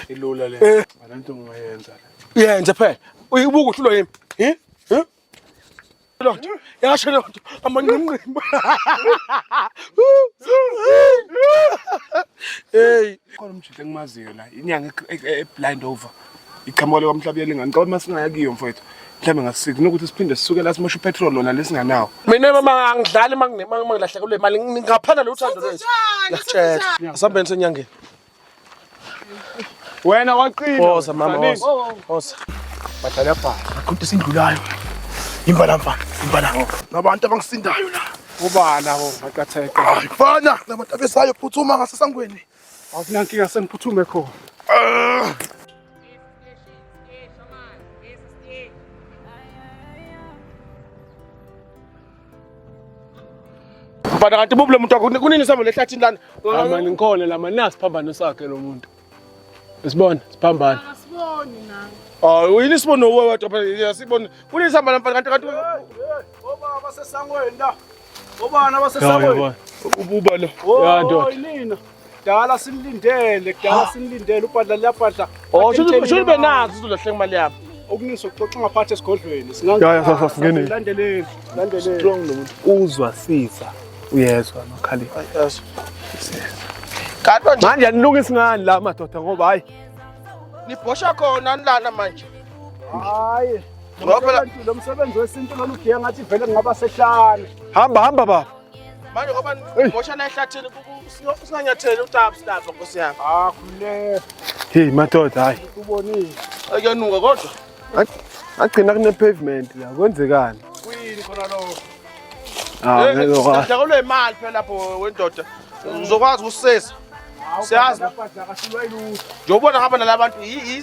Ilula le. Eh. Abantu ngiyenza le. Yenze phela. Uyibuka ukuthi ulo yimi. Hi? Hi? Lo. Yasho lo. Amanqimqimba. Hey. Khona umjita engimaziyo la. Inyanga e, e, e blind over. Iqhamuka lekwamhlabuyela lengane. Ngicela uma singaya kiyo mfowethu. mhlawumbe ngasikuthi nokuthi siphinde sisuke la simosha upetrol lona lesinganawo mina mama angidlali mangilahleka kule mali ngaphana lo uthando lwethu ngiyakutshela asambeni senyangeni Wena waqina. Woza mama woza. Woza. Badlala bhala. Aqhude sindlulayo. Imbala mfana, imbala. Nabantu abangisindayo la. Ubala ho, maqatheke. Hayi mfana, nabantu abesayo phuthuma ngasesangweni. Awunankinga sengiphuthume khona. Ah. Mfana kanti bubu lomuntu wakho kunini sihamba lehlathini lana? Mama ngikhona la mani nasiphambano sakhe lo muntu. Sibona siphambana. Asiboni nami. Ah uyini sibona uwe wathi phela sibona kunini sihamba la mfana kanti kanti obaba sesangweni la. Obana basesangweni. Ububa lo. Yadwa. Yinina. kudala sinilindele kudala sinilindele ubhadla liyabhadla Oh, shuthi shuthi Atshentsheni imali. benazo sizolahla imali yami. okuningi sokuxoxa ngaphathi esigodlweni Ya, ya, sasa, singene. landeleni landeleni Strong lo muntu. Uzwa sisa. Uyezwa makhaleni. Yes. Kanti manje Manje anilungisi ngani la madoda ngoba hayi nibhosha khona anilana manje. hayi Ngoba phela- lo msebenzi wesintu lona ugiya ngathi vele ngingaba sehlane hamba hamba baba. manje ngoba ngosha la ehlathini singanyatheli utabs lapha nkosi yami ah khululeka hey madoda hayi ubonile ayanuka kodwa agcina kune pavement la kwenzekani kuyini khona lo ah ngeke kwa sidakulwe imali phela lapho wendoda uzokwazi ukusesa siyazi njengoba ngihamba nala bantu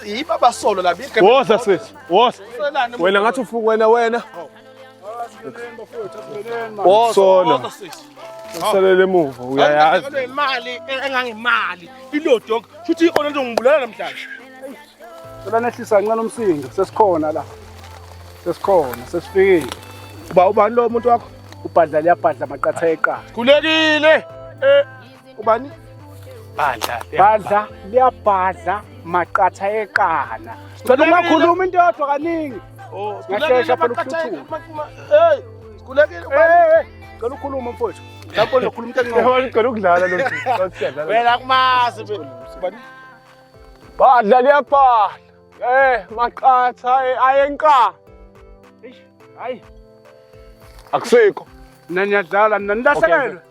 yibo abasolo la woza sesi woza wena ngathi ufuku wena wena Sona. Usalele emuva uyayazi. Ngale imali engangemali ilodog futhi ikhona into ngibulala namhlanje. Cela nehlisa kancane umsindo sesikhona la. Sesikhona sesifikile. Uba ubani lo muntu wakho? Ubhadla liyabhadla maqatha eqala. Khulekile. Eh ubani badla badla liyabhadla maqatha eqana cela ungakhuluma into yodwa kaningi oh, ngashesha phela ukuthuthula hey kulekile cela ukhuluma mfowethu lapho lokhuluma into encane ngicela ukudlala lo wena kumazi ubani badla liyabhadla eh maqatha eh, ayenqa hayi akusekho nanyadlala nanilahlekele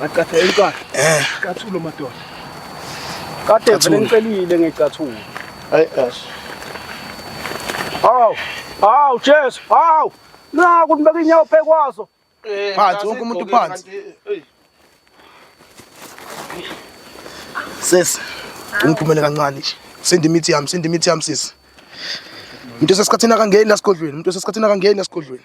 Ngacatha enkwathi. Eh. Cathulo madoda. Kade vele ngicelile ngecathulo. Hayi ash. Aw. Aw Jesu. Aw. Naku nibeka inyawo phekwazo. Eh, phansi wonke umuntu phansi. Sis. Ungiphumele kancane nje. Sindi imithi yami, sindi imithi yami sis. Umuntu osesikhathini akangeni la sigodlweni, umuntu osesikhathini akangeni la sigodlweni.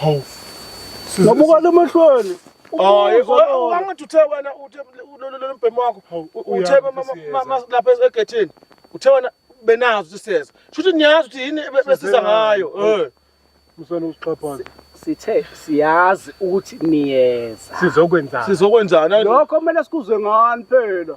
Hawu. Ngabukani emehlweni. Hayi kodwa angithi uthe wena uthe lo mbhemu wakho uthe lapha egethini uthe wena benazo ukuthi siyeza. Shuthi niyazi ukuthi yini besiza ngayo. Eh. Musana usixhaphaza. sithe siyazi ukuthi niyeza sizokwenzana sizokwenzana lokho kumele sikuzwe ngani phela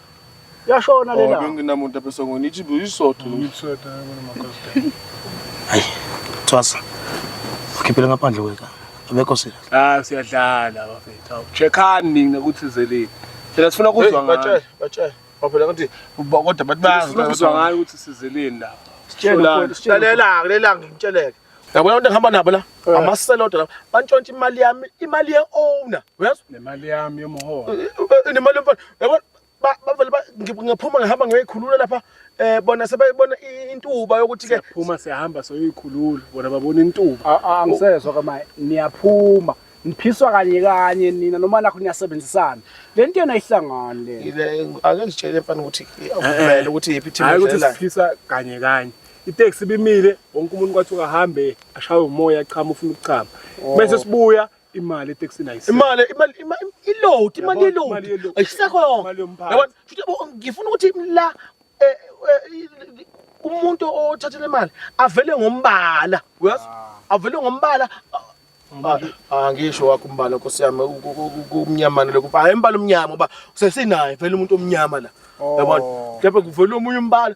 Yashona lena. Oh, benginamuntu apesa ngoni ithi buyisotho. Ngitsweta ngona makosta. Hayi. Tswasa. Ukhiphele ngaphandle kweka. Abekho sila. Ah siyadlala bafethu. Checkani nina ukuthi zeleni. Phela sifuna ukuzwa ngayo. Batshela, batshela. Baphela ngathi kodwa bathi bayazi. Sifuna ukuzwa ngayo ukuthi sizeleni lapha. Sitshela, sitshela. Lalela, lalela ngimtsheleke. Yabona abantu engihamba nabo la eh. amaselodo la bantshontsha imali yami imali ye owner uyazwa nemali yami yomholo eh, eh, nemali yomfana yabona bavele ngiphuma ngihamba ngiyoyikhulula lapha eh bona sebeyibona intuba yokuthi ke phuma siyahamba soyikhulula bona babona intuba angisezwa kama niyaphuma niphiswa kanye kanye nina noma nakho niyasebenzisana le nto yona ihlangani le ake ngitshele mfana ukuthi vele ukuthi yiphi team hayi ukuthi siphisa kanye kanye iteksi ibimile wonke umuntu kwathiwa ahambe ashawe umoya achama ufuna ukuchama oh. bese sibuya imali etekisini ayise imali imali iload imali yeload ayisekho yabona futhi ngifuna ukuthi la eh, eh, umuntu othathele imali avele ngombala uyazi ah. avele ngombala angisho ah, ah, wakho umbala nkosi yami kumnyamana lokho hayi umbala omnyama uba sesinaye vele umuntu omnyama la oh. yabona kepha kuvele omunye umbala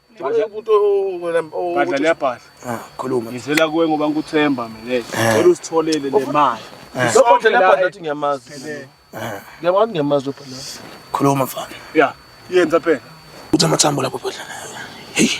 Ngicela umuntu wena Badla liyabhadla. Ah, khuluma. Ngizela kuwe ngoba ngikuthemba mina. Eh. Ngicela usitholele le mali. Eh. Lokho nje liyabhadla athi ngiyamazi. Ngiyabona ngiyamazi ubhadla. Khuluma mfana. Yeah. Yenza phela. Uthi amathambo lapho bhodla. Hey. Hey.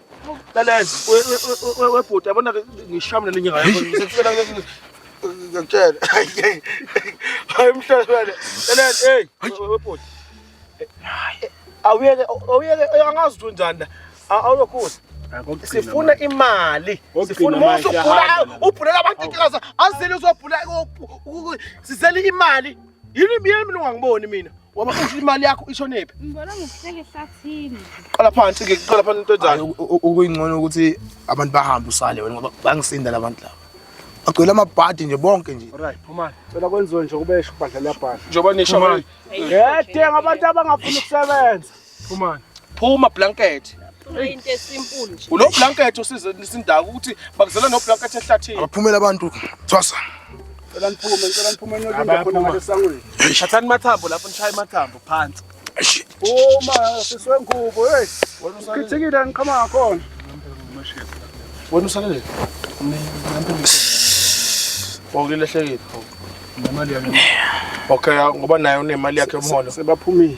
Lalela webhuti yabona ngishamule lenye ngayo sekufela ngiyakutshela hayi mhlawumbe lalela hey webhuti awuyeke awuyeke angazi ukuthi unjani la awulokhula sifuna imali sifuna uma usubhula ubhulela abantu inkingaza azele uzobhula sizele imali yini mina ungangiboni mina Waba usho imali yakho ishonephi? Ngibona ngokuhleke ehlathini. Qala phansi ke, qala phansi into enjalo. Ukuyingcono ukuthi abantu bahambe usale wena ngoba bangisinda labantu laba. Agcwele amabhadi nje bonke nje. Alright, phumani. Cela kwenziwe nje kubesho ubhadla liyabhala. Njengoba nisho manje. Ngedinga abantu abangafuni ukusebenza. Phumani. Phuma blanket. Into esimple nje. Ulo blanket usize isindaka ukuthi bakuzela no blanket ehlathini. Abaphumela abantu. Thwasa. Cela niphume, cela niphume niyokwenza khona ngale sangweni. Thathani mathambo lapho nishaye mathambo phansi. Phuma siswe ngubo hey. Wena usalele. Khithikile ngiqhama ngakhona. Wena usalele. Wawulehlekile. Nemali yami. Okay, ngoba naye unemali yakhe umholo. Sebaphumile.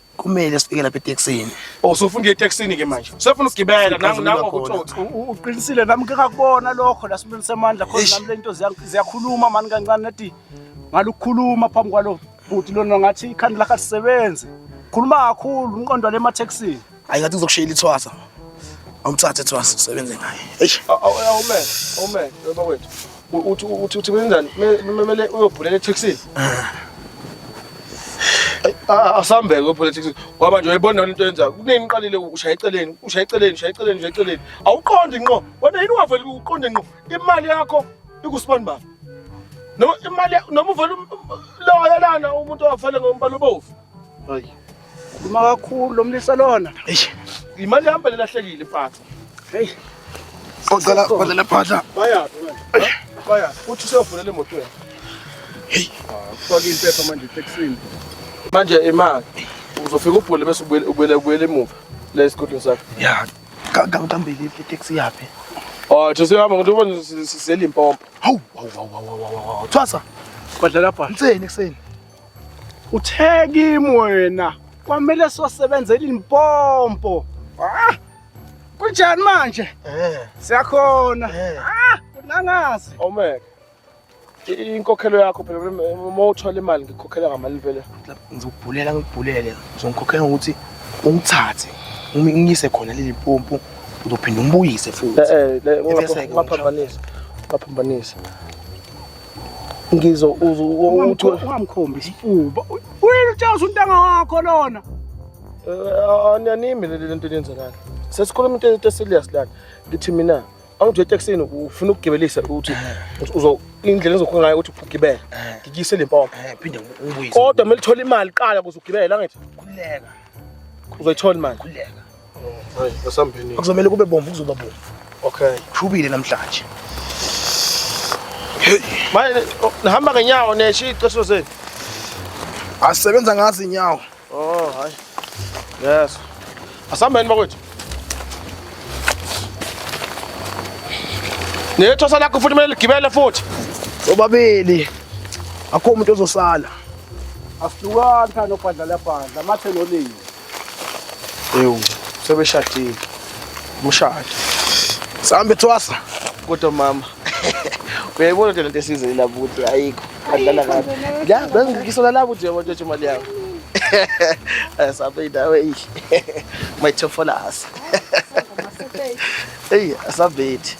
kumele sifike lapha eTexini oh sofuna ukuya eTexini ke manje sefuna ukugibela nangu nangu ukuthotha uqinisile nami ngeke ngakubona lokho la sibeni semandla khona nami lento ziyakhuluma mani kancane nathi ngalukhuluma phambi kwalo bhuti lona ngathi ikhanda lakhe lisebenze khuluma kakhulu unqondo le maTexini ayi ngathi uzokushayela ithwasa awumthathe ethwasa usebenze ngaye eish awume awume baba wethu uthi uthi uthi kwenzani kumele uyobhulela etaxini asambeke upolitics ngoba nje uyibona into yenza kunini uqalile ushaya eceleni ushaya eceleni ushaya eceleni ushaya eceleni awuqondi nqo wena yini ungaveli uqonde nqo imali yakho ikusibani baba noma imali noma uvela um, loyo lana umuntu owafele ngombala obovu hayi Uma kakhulu lo mlisa lona. Eish. Imali yami belahlekile mfana. Hey. Ocela kwale laphatha. Bayaphi manje? Bayaphi? Uthi useyovulela imoto yakhe. Hey. Faka impepha manje taxini. Manje imali uzofika ubhule bese ubuyele ubuyele ubuyele emuva la esigodini sakho. Ya. Kangambili itaxi yaphi? Oh, those hamba ngokuthi ubona sisela impompo. Hawu, hawu, hawu, hawu, hawu, hawu. Thwasa. Kwadlala bha. Inseni kuseni. Uthe kimi wena kwamele sosebenza ilimpompo. Ah! Kunjani manje? Eh. Siyakhona. Eh. Ah, nangazi. Omeke. Inkokhelo yakho phela uma uthola imali ngikhokhela ngamali phela. Ngizokubhulela ngikubhulele. Ngizongikhokhela ngokuthi ungithathe. Uma ngiyise khona leli pompo uzophinda umbuyise futhi. Eh eh, ngaphambanisa. Ngaphambanisa. Ngizo ungamkhombi isifuba. Wena utshaza untanga wakho lona. Eh, Anyanimi le nto yenzakalana. Sesikhuluma into into serious lana. Ngithi mina awunje eteksini ufuna ukugibelisa ukuthi uzo indlela ezokhona ngayo ukuthi ugibele. Ngikise le mpompo. Eh, eh, phinde ngibuyise. Kodwa melithola imali qala kuze ugibele angithi. Khuleka. Uzoyithola imali. Khuleka. Hayi, asambeni. Kuzomela kube bomvu kuzoba bomvu. Okay. Shubile namhlanje. Hey, manje oh, nihamba ngenyawo neshiya iceso zenu. Asebenza ngazi inyawo. Oh, hayi. Yes. Asambeni bakwethu. Nethosa lakho futhi kumele ligibele futhi. Obabili. Akho umuntu ozosala. Ahlukana nobhadla labhadla mathe nolimi. Ewu, sebeshadile. Umshado. Sambe thwasa. Kodwa mama. Uyayibona nje lento esizini lapho ukuthi ayikho. Adlala kabi. Ya, bengisola lapho ukuthi uyabona ukuthi imali yakho. Eh, Sambe indawo eyi. My top for us. Eyi, asabethi.